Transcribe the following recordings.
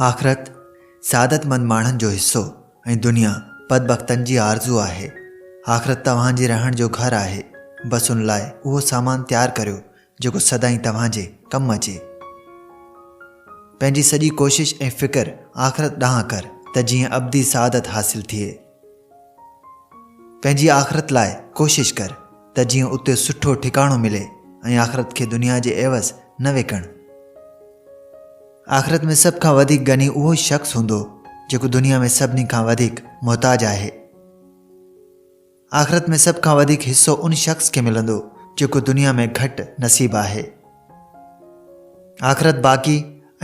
آخرت سعادت مند ماڻهن جو حصو ۽ دنيا پد بختن جي آرزو آهي آخرت توهان جي رهڻ جو گهر آهي بس ان لاء اهو سامان تيار ڪريو جيڪو سدائين توهان جي ڪم اچي. پنهنجي سڄي ڪوشش ۽ فڪر آخرت ڏانهن ڪر ته جيئن ابدي سعادت حاصل ٿئي. پنهنجي آخرت لاء ڪوشش ڪر ته جيئن اتي سٺو ٺڪاڻو ملي ۽ آخرت کي دنيا جي عيوض نه وڪڻ. آخرت ۾ سڀ کان وڌيڪ غني اهو شخص هوندو جيڪو دنيا ۾ سڀني کان وڌيڪ محتاج آهي. آخرت ۾ سڀ کان وڌيڪ حصو ان شخص کي ملندو جيڪو دنيا ۾ گهٽ نصيب آهي. آخرت باقي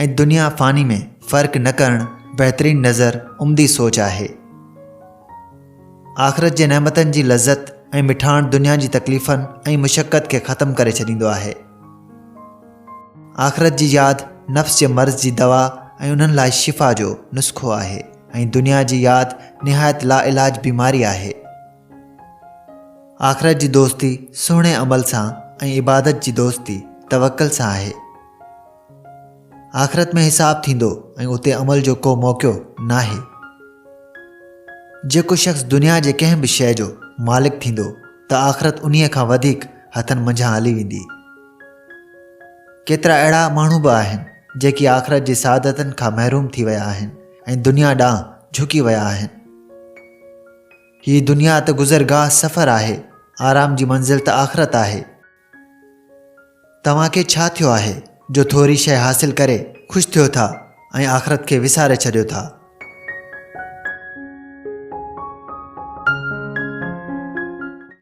۽ دنيا فاني ۾ فرق نه ڪرڻ بهترين نظر عمدي سوچ آهي. آخرت جي نعمتن جي لذت ۽ مٺاڻ دنيا جي تڪليفن ۽ مشقت کي ختم ڪري ڇڏيندو آهي. آخرت جي ياد نفس جي مرض جي دوا ۽ انهن لاء شفا جو نسخو آهي ۽ دنيا جي ياد نهايت لاعلاج بيماري آهي. آخرت جي دوستي سهڻي عمل سان ۽ عبادت جي دوستي توڪل سان آهي. آخرت ۾ حساب ٿيندو ۽ اتي عمل جو ڪو موقعو ناهي. جيڪو شخص دنيا جي ڪنهن به شيء جو مالڪ ٿيندو ته آخرت انهيء کان وڌيڪ هٿن منجهان هلي ويندي. ڪيترا اهڙا ماڻهو به آهن جيڪي آخرت جي سعادتن کان محروم ٿي ويا آهن ۽ دنيا ڏانهن جهڪي ويا آهن. هي دنيا ته گذرگاهه سفر آهي، آرام جي منزل ته آخرت آهي. توهان کي ڇا ٿيو آهي جو ٿوري شيء حاصل ڪري خوش ٿيو ٿا ۽ آخرت کي وساري ڇڏيو ٿا؟